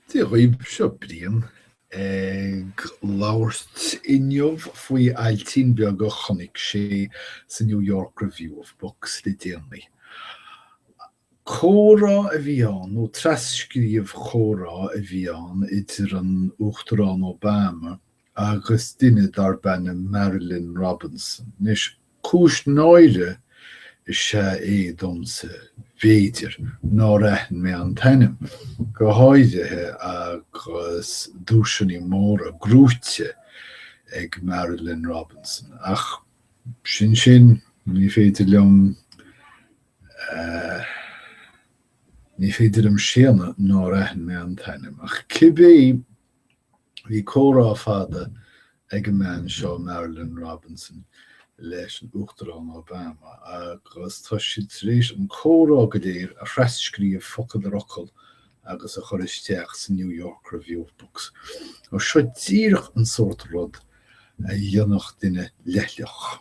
Dia dhaoibh, seo Brian ag labhairt inniu faoi ailtín beag a chonaic mé sa New York Review of Books le déanaí. Comhrá a bhí ann, nó tras-scríobh chomhrá a bhí ann idir an Uachtarán Obama agus duine darb ainm Marilynne Robinson. Anois, cúis náire is ea é domsa, b'fhéidir, nár aithin mé an t-ainm, go háirithe agus duaiseanna móra gnóite ag Marilynne Robinson. Ach sin sin, ní féidir liom, eh, ní féidir liom séanadh nár aithin mé an t-ainm. Ach cibé Bhí comhrá fada ag an mbean seo, Marilynne Robinson, leis an Uachtarán Obama agus tá siad tar éis an comhrá go léir a thras-scríobh focal ar fhocal agus a chur isteach sa New York Review of Books. Seo díreach an sórt rud a dhéanfadh duine leithleach.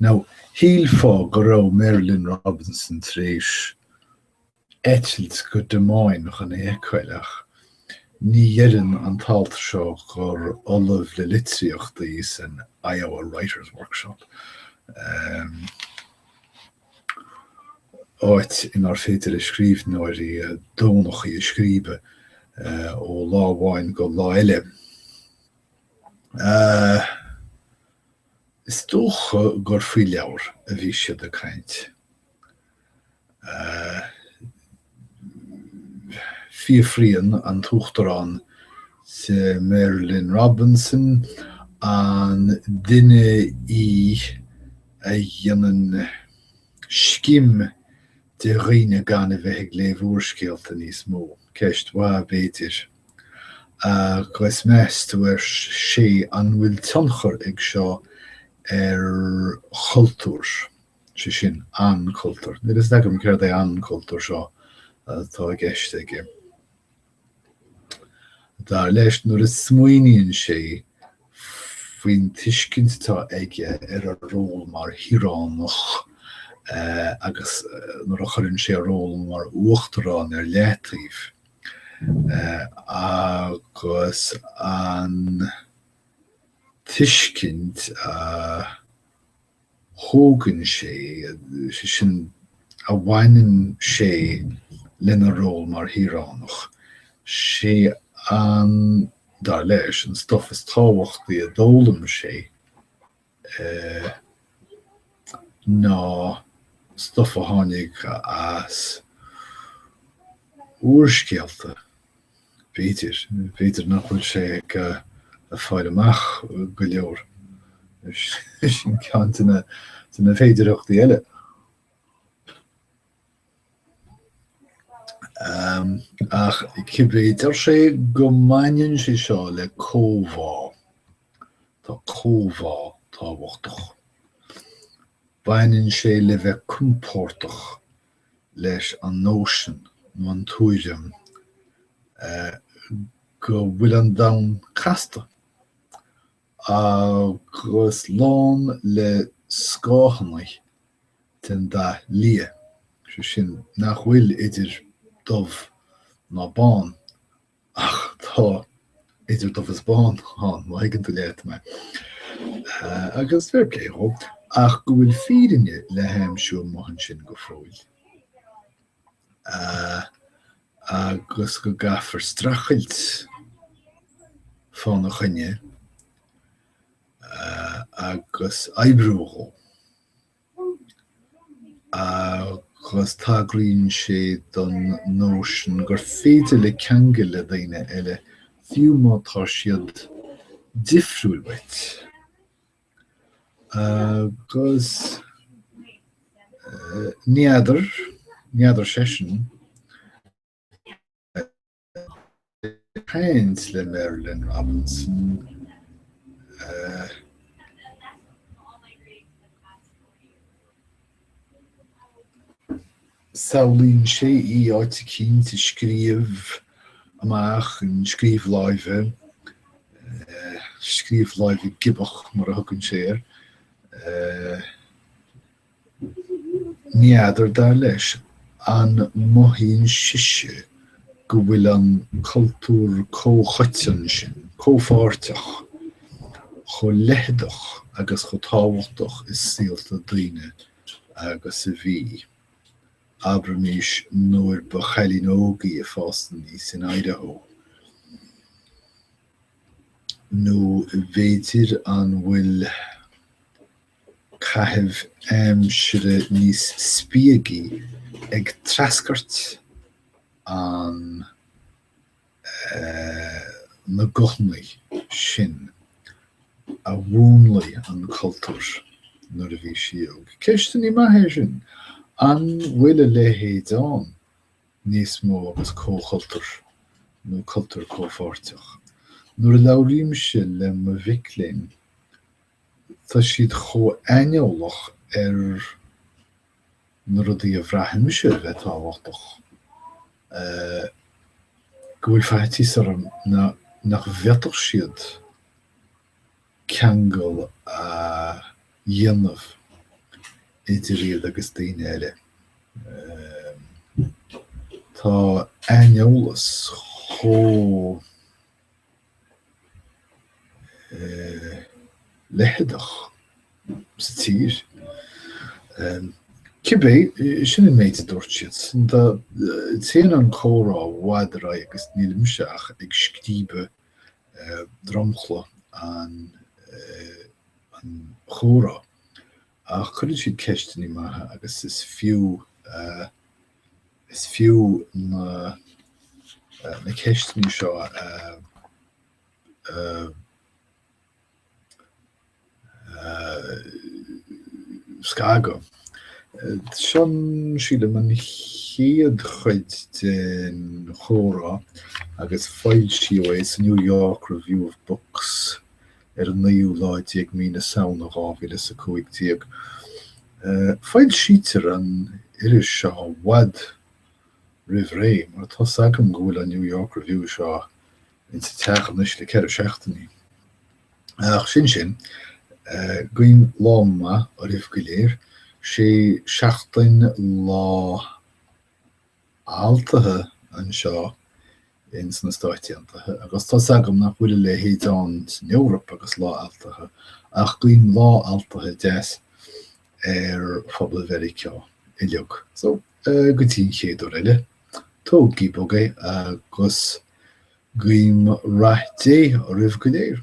Now, shílfeá go raibh Marilynne Robinson tar éis eitilt go Des Moines chun é a fheiceáil ach ní deireann an t-alt seo gur ollamh le litríocht í san Iowa Writers Workshop, áit inár féidir le scríbhneoirí dánachtaí a scríobh ó lá amháin go lá eile. Is dócha gur faoi leabhar a bhí siad ag caint. Fiafraíonn an tUachtarán de Marilynne Robinson an duine í a dhéanann scim de dhaoine gan a bheith ag léamh úrscéalta níos mó. Ceist mhaith, b'fhéidir. Agus meas tú, ar sé, an bhfuil tionchar ag seo ar chultúr, sé sin, an cultúr? Níl fhios agam céard é an cultúr seo atá i gceist aige. Dar leis, nuair a smaoiníonn sé faoin tuiscint atá aige ar a ról mar shaoránach agus nuair a chuireann sé a ról mar uachtarán ar leataobh agus an tuiscint a thógann sé, sé sin, a bhaineann sé lena ról mar shaoránach. Sé an, dar leis, an stuif is tábhachtaí a d'fhoghlaim sé ná stuif a tháinig as úrscéalta. B'fhéidir. B'fhéidir nach bhfuil sé ag fáil amach go leor. Sin ceann de na féidearthachtaí eile. Ach cibé, deir sé go mbaineann sé seo le comhbhá. Tá comhbhá tábhachtach. Baineann sé le bheith compordach leis an nóisean nó an tuairim go bhfuil an domhan casta agus lán le scáthannaí den dath liath, sé sin, nach bhfuil idir dubh ná bán Ach tá idir dubh is bán ann, má thuigeann tú leat mé. Agus fair play dhó, ach go bhfuil fírinne le haimsiú amuigh ansin go fóill. Agus go gcaithfear streachailt fána choinne agus oibriú dhó. agus tagraíonn sé don nóisean gur féidir le ceangal le daoine eile, fiú má tá siad difriúil uait, agus n'fheadar, n'fheadar seisean, ag caint le Marilynne Robinson, eh. Samhlaíonn sé í áit eicínt ag scríobh amach an scríobh láimhe, scríobh láimhe giobach mar a thugann sé air. N'fheadar, dar leis, an mothaíonn sise go bhfuil an cultúr comhchoiteann sin, comhpháirteach, chomh leitheadach agus chomh tábhachtach i saolta daoine agus a bhí, abraimis, nuair ba chailín óg í ag fás aníos in Idaho. Nó b'fhéidir an bhfuil. caitheamh aimsire níos spiagaí ag treascairt an na nguthannaí sin a mhúnlaigh an cultúr nuair a bhí sí óg. Ceisteannaí maithe sin. An bhfuil a leithéid ann níos mó agus comhchultúr nó cultúr comhpháirteach? Nuair a labhraímse le mo mhic léinn Tá siad chomh aineolach ar na rudaí a bhreathnaímse a bheith tábhachtach go bhfuil faitíos orm nach bhféadfadh siad ceangal a dhéanamh idir iad agus daoine eile. Tá aineolas chomh. leitheadach sa tír. Cibé, sin an méid a dúirt siad. Téann an comhrá i bhfad ar aghaidh agus nílimse ach ag scríobadh dromchla an chomhrá. Ach cuireann siad ceisteanna maithe agus is fiú, is fiú na, na ceisteanna seo a, a, a scagadh. Seo an chéad chuid den chomhrá agus foilsíodh é sa New York Review of Books ar an naoú lá déag mí na Samhna dhá mhíle is a cúig déag. Foilsítear an iris seo i bhfad roimh ré, mar tá 's agam go bhfuil an New York Review seo insa teach anois le ceithre seachtainí. Ach sin sin. Guím lá maith oraibh go léir. Sí seachtain Lá. Altaithe anseo ins na Stáit Aontaithe, agus tá's agam nach bhfuil a leithéid ann san Eoraip agus Lá Altaithe, ach guím Lá Altaithe deas ar phobal Mheiriceá uiliug. So, go dtí an chéad uair eile, tógaigí bog é, agus guím Rath Dé oraibh go léir.